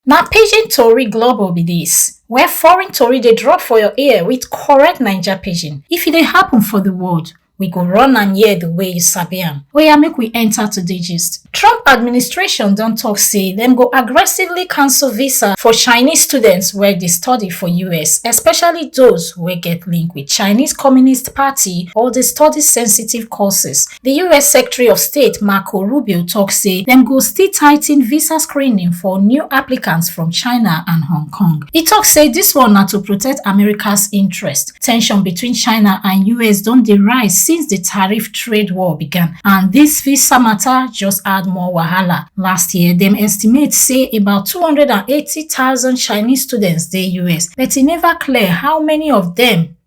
Na pidgin tori global be dis, where foreign tori dey drop for your ear with correct Naija pidgin. If e dey happen for the world, we go run am here the way you sabi am. Oya make we enter today gist. Trump administration don talk say dem go aggressively cancel visa for Chinese students wey dey study for US, especially those wey get link with Chinese Communist Party or dey study sensitive courses Di us Secretary of State Marco Rubio tok say dem go still tighten visa screening for new applicants from China and Hong Kong. E tok say dis one na to protect America's interest. Tension between China and us don dey rise since di tariff trade war began and dis visa matter just add more wahala. Last year, dem estimate say about 280,000 Chinese students dey us but e never clear how many of dem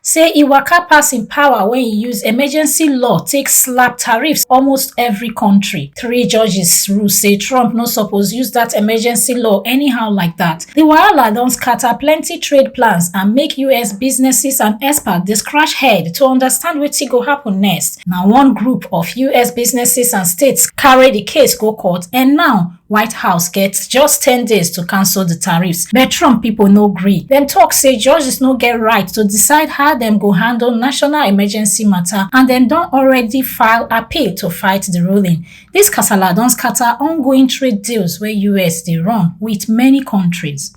say e waka pass im power wen e use emergency law take slap tariffs almost every kontri. Three judges rule say Trump no suppose use dat emergency law anyhow like dat. Di wahala don scata plenty trade plans and make us businesses and experts dey scratch head to understand wetin go happun next. Na one group of us businesses and states carry di case go court and now, White House get just 10 days to cancel the tariffs, but Trump people no gree. Dem talk say judges no get right to decide how dem go handle national emergency matter and dem don already file appeal to fight the ruling. This kasala don scatter ongoing trade deals wey US dey run with many countries.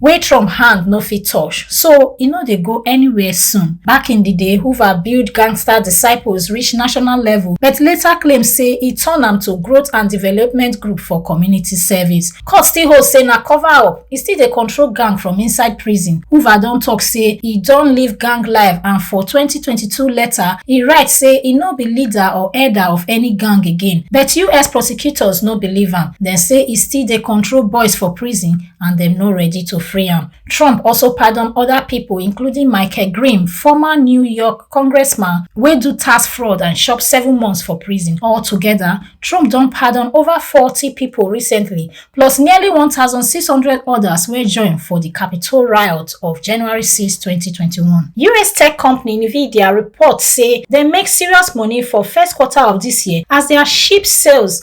wey Trump hand no fit touch, so e no dey go anywhere soon. Back in di day, Hoover build gangster disciples reach national level but later claim say e turn am to growth and development group for community service. Court still hold say na cover up, e still dey control gang from inside prison. Hoover don tok say e don leave gang life and for twenty twenty two letter, e write say e no be leader or elder of any gang again. But us prosecutors no believe am, dem say e still dey control boys for prison and dem no ready to free am. Trump also pardon other people, including Michael Grimm, former New York congressman wey do tax fraud and chop seven months for prison. Altogether, Trump don pardon over 40 people recently, plus nearly 1,600 others wey join for di Capitol riot of January 6, 2021. US tech company Nvidia report say dem make serious money for first quarter of dis year as their chip sales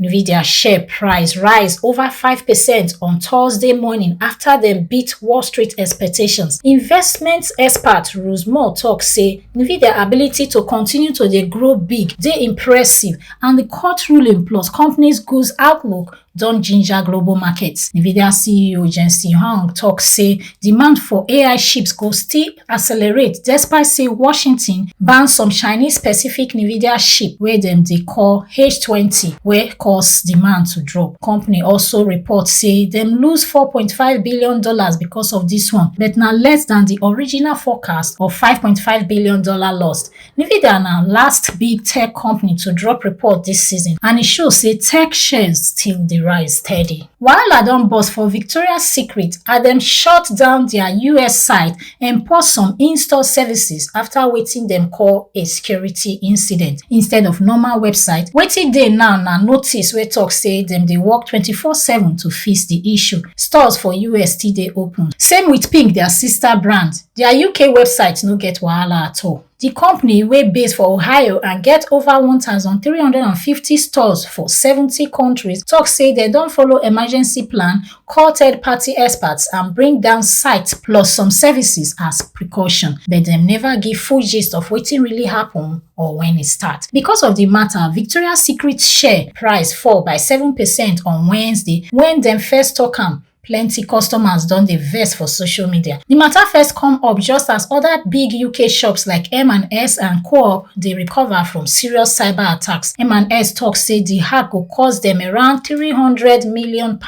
Nvidia share price rise over 5% on Thursday morning after dem beat Wall Street expectations. Investment expert Rose Moore talk say Nvidia ability to continue to dey grow big dey impressive and the court ruling plus company's goods outlook don ginger global markets. Nvidia CEO Jensen Huang talk say Demand for AI chips go still accelerate despite say Washington ban some Chinese-specific NVIDIA chip wey dem dey call H20 wey cause demand to drop. Company also report say dem lose $4.5 billion because of dis one but na less than di original forecast of $5.5 billion lost. Nvidia na last big tech company to drop report dis season and e show say tech shares still dey rise steady. Wahala don burst for Victoria's Secret as dem shut down dia US site and pause some in-store services after wetin dem call a security incident instead of normal website. Wetin dey now na notice wey tok say dem dey work twenty-four seven to fix di issue. Stores for US still dey open. Same wit Pink, dia sister brand. Dia UK website no get wahala at all. Di company wey base for Ohio and get over 1,350 stores for 70 countries tok say dem don follow emergency plan, call third party experts and bring down sites plus some services as precaution but dem neva give full gist of wetin really happun or wen e start. Becos of di mata, Victoria Secret share price fall by seven percent on Wednesday wen dem first tok am Plenty customers don dey vex for social media. Di matter first come up just as other big UK shops like M&S and Co-op dey recover from serious cyber attacks. M&S talk say di hack go cost dem around £300 million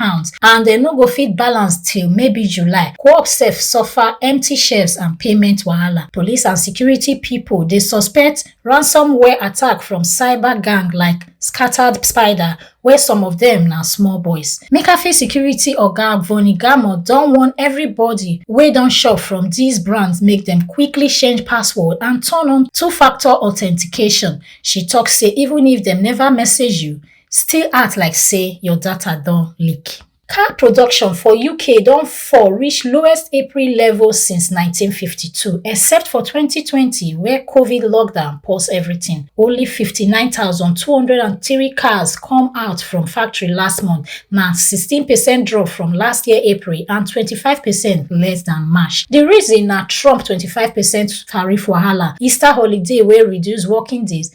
and dem no go fit balance till maybe July. Co-op sef suffer empty shelves and payment wahala. Police and security people dey suspect ransomware attack from cyber gang like Scattered Spider wey some of dem na small boys. McAfee security oga Vonnie Gamo don warn everybody wey don shop from these brands make dem quickly change password and turn on two-factor authentication. She talk say even if dem never message you, still act like say your data don leak. Car production for UK don fall reach lowest April level since 1952, except for 2020 where COVID lockdown pause everything. Only 59,203 cars come out from factory last month, na 16% drop from last year April and 25% less than March. The reason na Trump 25% tariff wahala, Easter holiday wey reduce working days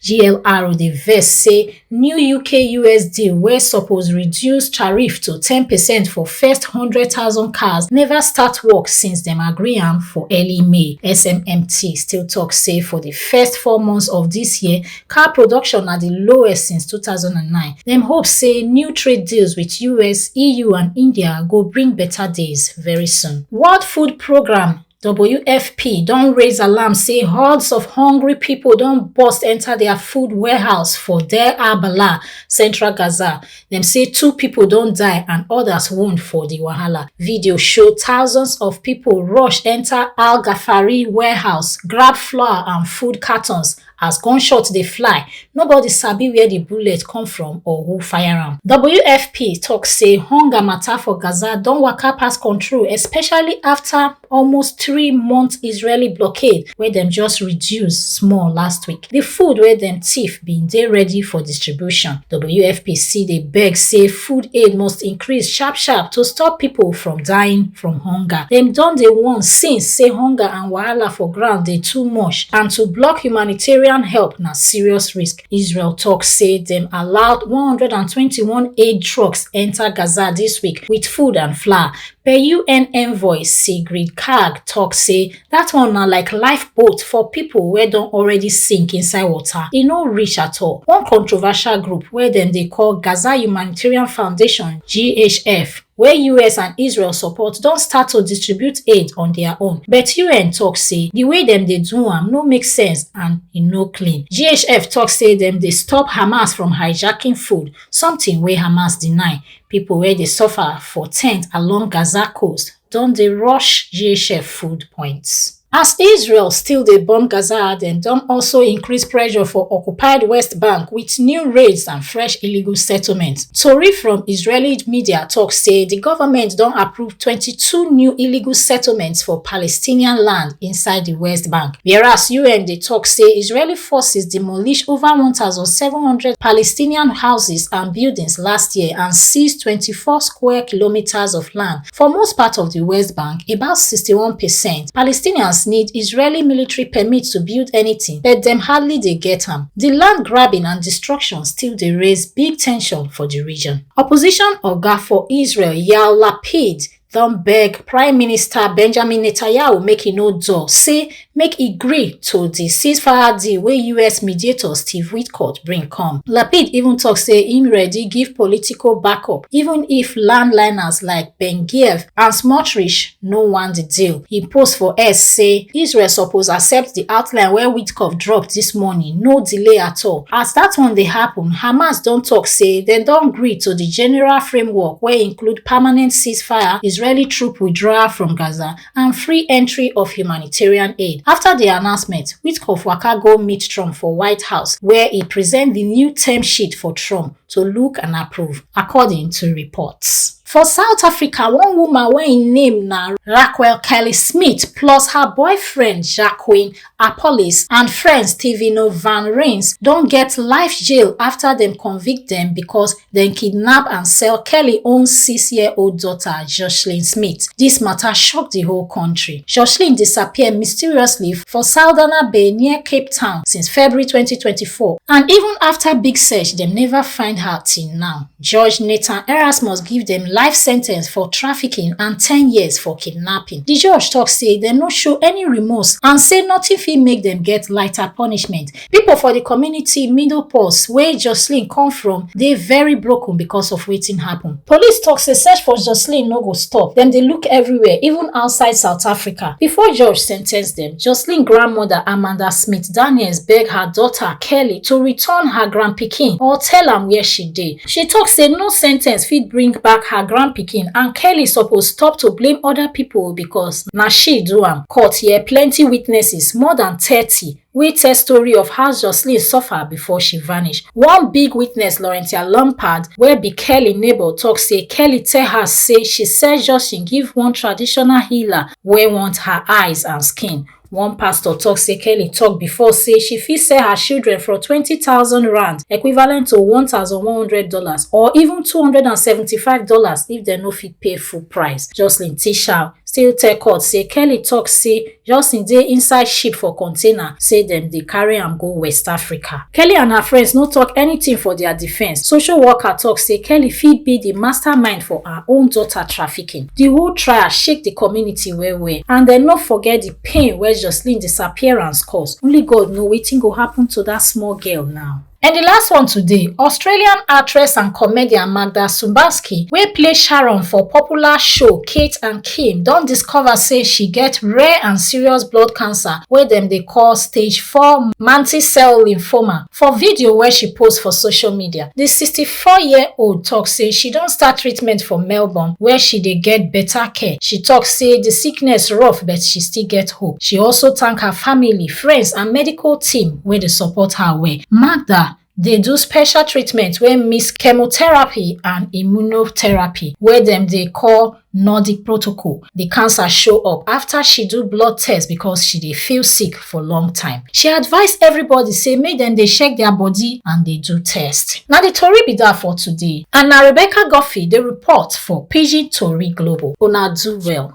GLRO dey vex say new UK-US deal wey suppose reduce tariff to ten percent for first hundred thousand cars never start work since dem agree am for early May. SMMT still talk say for the first four months of this year, car production na the lowest since two thousand and nine. Dem hope say new trade deals with US, EU and India go bring better days very soon. World Food Programme WFP don raise alarm say hordes of hungry people don burst enter their food warehouse for Deir Abala, central Gaza. Dem say two people don die and others wound for the wahala. Video show thousands of people rush enter Al Ghafari warehouse, grab flour and food cartons As gunshot dey fly, nobody sabi where di bullet come from or who fire am. WFP tok say hunger mata for Gaza don waka pass control, especially afta almost three month Israeli blockade wey dem just reduce small last week. Di food wey dem tiff bin dey ready for distribution. WFP still dey beg say food aid must increase sharp sharp to stop pipo from dying from hunger. Dem don dey warn since say hunger and. and wahala for ground dey too much and to block humanitarian help na serious risk israel tok say dem allowed 121 aid trucks enta gaza dis week wit food and flour per un envoy sigrid kaag tok say dat one na like lifeboat for pipo wey don already sink inside water e no reach at all one controversial group wey dem dey call gaza humanitarian foundation ghf wey us and israel support don start to distribute aid on dia own but un tok say di way dem dey do am no make sense and e no clean ghf tok say dem dey stop hamas from hijacking food something wey hamas deny pipo wey dey suffer for tent along gaza coast don dey rush ghf food points As Israel still dey bomb Gaza, dem don also increase pressure for occupied West Bank with new raids and fresh illegal settlements. Tori from Israeli media talk say di government don approve 22 new illegal settlements for Palestinian land inside di West Bank, whereas UN dey talk say Israeli forces demolish over 1,700 Palestinian houses and buildings last year and seize 24 square kilometres of land For most part of di West Bank, about sixty-one percent, Palestinians need Israeli military permit to build anytin, but dem hardly dey get am. Di land grabbing and destruction still dey raise big tension for di region. Opposition oga for Israel, Yair Lapid, don beg Prime Minister Benjamin Netanyahu make e no dull, say make e gree to di ceasefire deal wey us mediator steve witkoff bring come lapid even tok say im ready give political backup even if landliners like ben giev and smotrich no want di deal im post for x say israel suppose accept di outline wey witkoff drop dis morning no delay at all as dat one dey happun hamas don tok say dem don gree to di general framework wey include permanent ceasefire israeli troop withdrawal from gaza and free entry of humanitarian aid after di announcement witkoff waka go meet trump for white house wia e present di new term sheet for trump to look and approve according to reports. For South Africa, one woman wey im name na Raquel Kelly Smith plus her boyfriend Jacqueline Appollis and friend Stevino Van Rins don get life jail after dem convict dem because dem kidnap and sell Kelly own six-year-old daughter, Joshlin Smith. Dis matter shock di whole country. Joshlin disappear mysteriously for Saldanha Bay near Cape Town since February 2024 and even after big search, dem never find her till now. Judge Nathan Erasmus give dem life sentence for trafficking and ten years for kidnapping. Di judge tok say dem no show any remorse and say nothing fit make dem get lighter punishment. Pipo for di community Middle Pulse, wey Jocelyn come from, dey very broken because of wetin happen. Police tok say search for Jocelyn no go stop, dem dey look everywhere, even outside South Africa. Before judge sentence dem, Jocelyn grandmother Amanda Smith-Daniels beg her daughter kelly to return her grandpikin or tell am wia she dey she tok say no sen ten ce fit bring back her grandpikin and kelly suppose stop to blame oda pipo becos na she do am court hear plenty witnesses more dan thirty wey tell story of how joshlin suffer before she vanish one big witness laurentia lampard wey be kelly neighbour tok say kelly tell her say she sell joshlin give one traditional healer wey want her eyes and skin One pastor tok say Kelly tok before say she fit sell her children for twenty thousand rand, equivalent to one thousand one hundred dollars or even two hundred and seventy-five dollars if dem no fit pay full price. Jocelyn Tishal still tell court say Kelly tok say Jocelyn dey inside ship for container say dem dey carry am go West Africa. Kelly and her friends no tok anytin for dia defence. Social worker tok say Kelly fit be di mastermind for her own daughter trafficking. Di whole trial shake di community well-well and dem no forget di pain wey Joshlin disappearance cause, only God know wetin go happun to dat small girl now. And di last one today, Australian actress and comedian Magda Szubanski wey play Sharon for popular show Kate and Kim don discover say she get rare and serious blood cancer wey dem dey call stage four mantle cell lymphoma For video wey she post for social media, di sixty four year old tok say she don start treatment for Melbourne wia she dey get beta care. She tok say di sickness rough but she still get hope. She also tank her family, friends and medical team wey dey support her well. Magda dey do special treatment wey mix chemotherapy and immunotherapy wey dem dey call. Nordic protocol, the cancer show up after she do blood test because she dey feel sick for long time. She advise everybody say make dem dey check their body and dey do test. Na the tori be that for today and na Rebecca Guffey dey report for Pidgin Tori Global. Una do well.